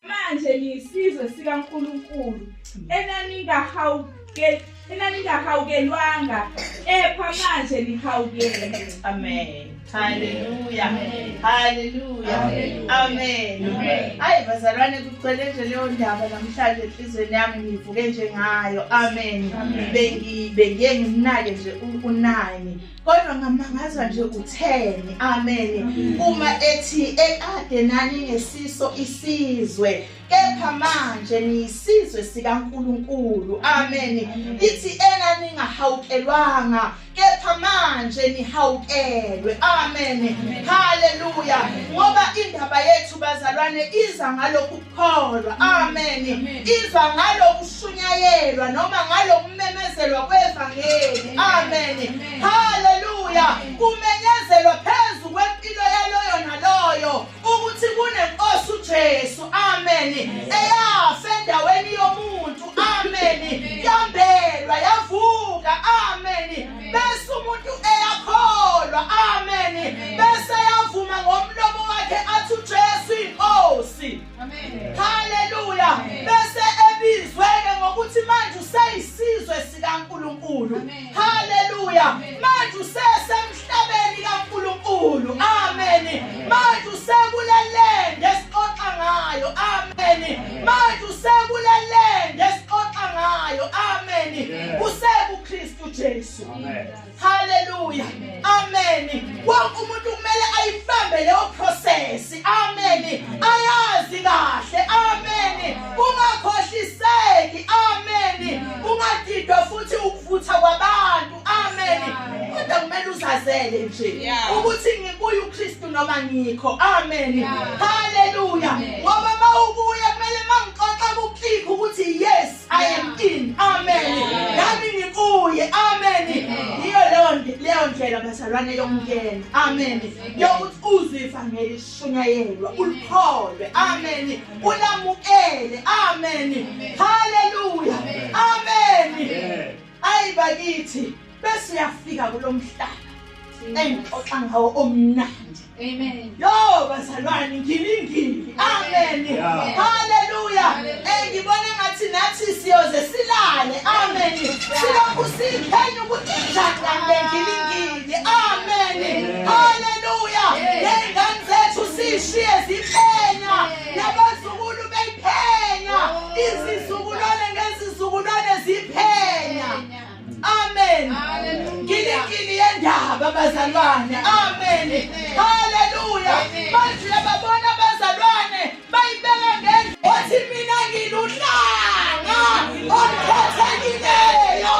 Manje niyisizwe sikaNkulunkulu enaningahawukeli enaningahawukelwanga kepha manje nihawukele. Amen. Hallelujah. Amen. Hallelujah. Amen. Amen. Amen. Hayi bazalwane kugcwele nje leyo ndaba namhlanje enhlizweni yami ngivuke nje ngayo. Amen. Bengi bengiye ngimnake nje unani. kodwa ngamangazwa nje utheni amen mm. uma ethi ekade nani ngesiso isizwe kepha manje niyisizwe sikaNkuluNkulu amen ithi ena ningahawukelwanga kepha manje nihawukelwe amen haleluya ngoba indaba yethu bazalwane iza ngalokhu kholwa amen izwa ngalokushunyayelwa noma ngalokumemezelwa kwevangeli amen haleluya kumenyezelwa phezu kwempilo yaloyo naloyo ukuthi kunenkosi uJesu amen eyafa endaweni yomuntu amen yambelwa yavuka amen bese umuntu eyakholwa amen bese yavuma ngomlomo wakhe athi uJesu inkosi amen haleluya bese ebizweke ngokuthi manje useyisizwe sikaNkuluNkulu haleluya manje usesemhlabeni kaNkuluNkulu amen manje usekulelende esixoxa ngayo amen manje usekulelende esixoxa ngayo amen usekuKristu uJesu. Haleluya. Amen. Wonke umuntu kumele ayibambe leyo process. Amen. Ayazi kahle. Amen. Ungakhohliseki. Amen. Ungadidwa futhi ukuvutha kwabantu. Amen. Kodwa kumele uzazele nje ukuthi ngikuye uKristu noma ngikho. Amen. Haleluya. Ngoba mawukuya kumele mangixoxa kuclick ukuthi yes I am in. Amen. Nami ngikuye. Amen. Yiyo leyo leyo ndlela bazalwane yokungena. Amen. Yokuthi uzwe ivangeli shunyayelwa, ulikholwe. Amen. Ulamukele. Amen. Hallelujah. Amen. Ayi bakithi bese uyafika kulomhlaba engixoxa ngawo omnandi. Amen. Yo bazalwane ngilingile. Amen. Haleluya. Engibona eh, ngathi nathi siyoze silale. Amen. Silokhu siphenya ukuthi njani kanti ngilingile. Amen. Haleluya. Ngengane zethu sishiye ziphenya. nabazukulu beyiphenya izizukulwane ngezizukulwane ziphenya amen ngilikini yendaba bazalwane amen haleluya manje uyababona abazalwane bayibeka ngendlela othi mina ngiluhlanga olukhethekileyo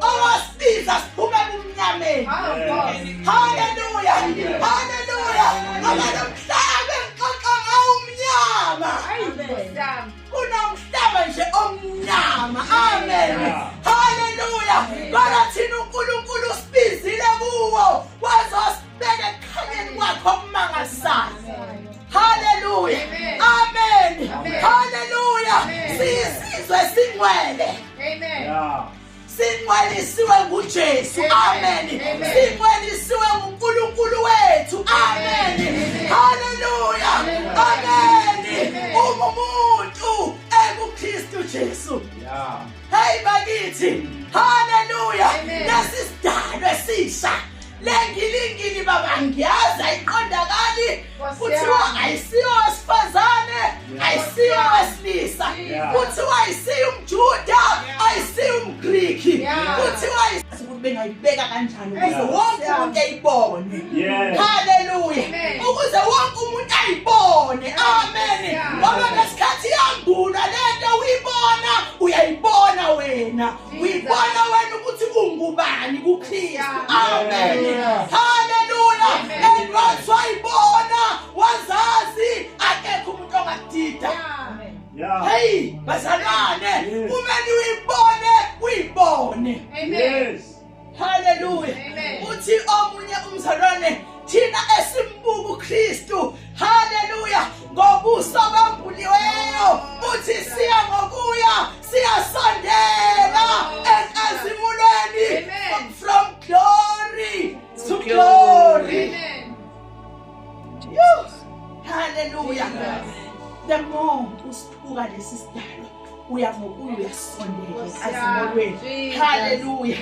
owasibiza siphume kumnyameni haleluya haleluya ngoba nomhlaba engixoxa ngawo umnyama kunomhlaba nje omnyama amen haleluya kodwa thina unkulunkulu usibizile kuwo wazosibeka ekukhanyeni kwakho okumangalisayo haleluya amen haleluya siyisizwe singcwele amen sinqwelisiwe nguJesu amen sinqwelisiwe nguNkulunkulu wethu amen haleluya amen uma umuntu ekuKristu Jesu hey bakithi haleluya lesi sidalwe sisha lengilingili baba ngiyazi ayiqondakali kuthiwa ayisiyo wesifazane ayisiyo wesilisa kuthiwa ayisiyo umjuda ayisiyo umgriki kuthiwa ukuthi bengayibeka kanjani ukuze wonke umuntu ayibone haleluya ukuze wonke umuntu ayibone amen ngoba ngesikhathi yambulwa lento uyibona uyayibona wena uyibona wena ukuthi ungubani kukristu amen haleluya and once wayibona wazazi akekho umuntu ongadida heyi bazalwane kumele uyibone uyibone yes haleluya uthi omunye umzalwane thina esimbuka uKristu haleluya ngobuso bambuliweyo uthi siya ngokuya siyasondela enkazimulweni from glory to glory haleluya the more usiphuka lesi sidalo uya ngokuya uyasondela azimolweni haleluya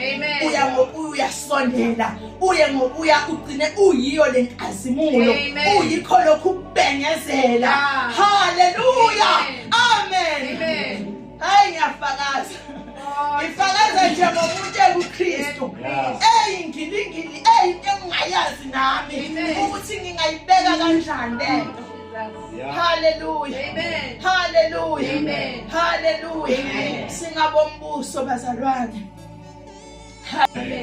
uya ngokuya uyasondela uye ngokuya ugcine uyiyo le nkazimulo uyikho lokhu ukubengezela haleluya amen hayi ngiyafakaza ngifakaza nje ngomuntu ekukristu eyi ngilingili eyi into engingayazi nami ukuthi ngingayibeka kanjani lento Hallelujah. Amen. Hallelujah. Amen. Hallelujah. Amen. Singabombuso bazalwane.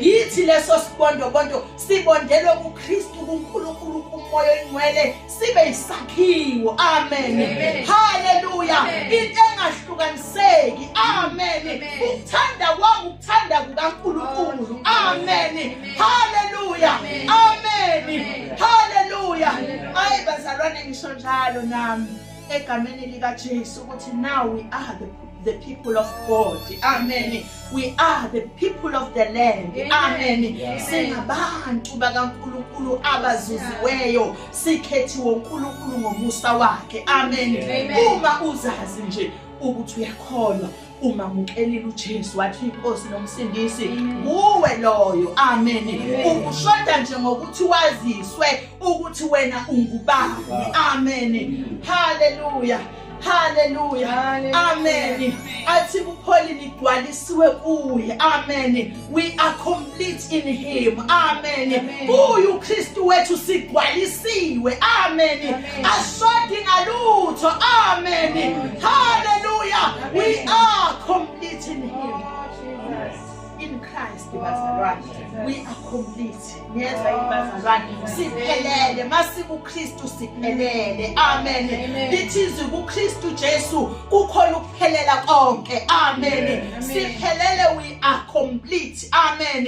yithi leso sibondobondo sibondelwe kuKristu kuNkulunkulu kumoya oyingcwele sibe isakhiwo amen haleluya into engahlukaniseki amen ukuthanda kwangu Thanda kukaNkulunkulu. Amen. Hallelujah. Amen. Hallelujah. Hayi bazalwane ngisho njalo nami egameni lika Jesu ukuthi now we are the the people of God. Amen. We are the people of the land. Amen. Singabantu bakaNkuluNkulu abazuziweyo, sikhethiwe uNkuluNkulu ngomusa wakhe. Amen. Uma uzazi nje ukuthi uyakholwa umamukelile uJesu wathi inkosi nomsindisi kuwe loyo amen ukushoda nje ngokuthi waziswe ukuthi wena ungubani amen haleluya haleluya amen athi kupholile igcwalisiwe kuye amen we are complete in him amen kuye uKristu wethu sigwalisiwe amen ashodi ngalutho amen hallelujah we are complete in him in Christ bazalwane we are complete niyezwa yini bazalwane siphelele masikuKristu siphelele amen lithi izwi kuKristu Jesu kukhona ukuphelela konke amen siphelele we are complete amen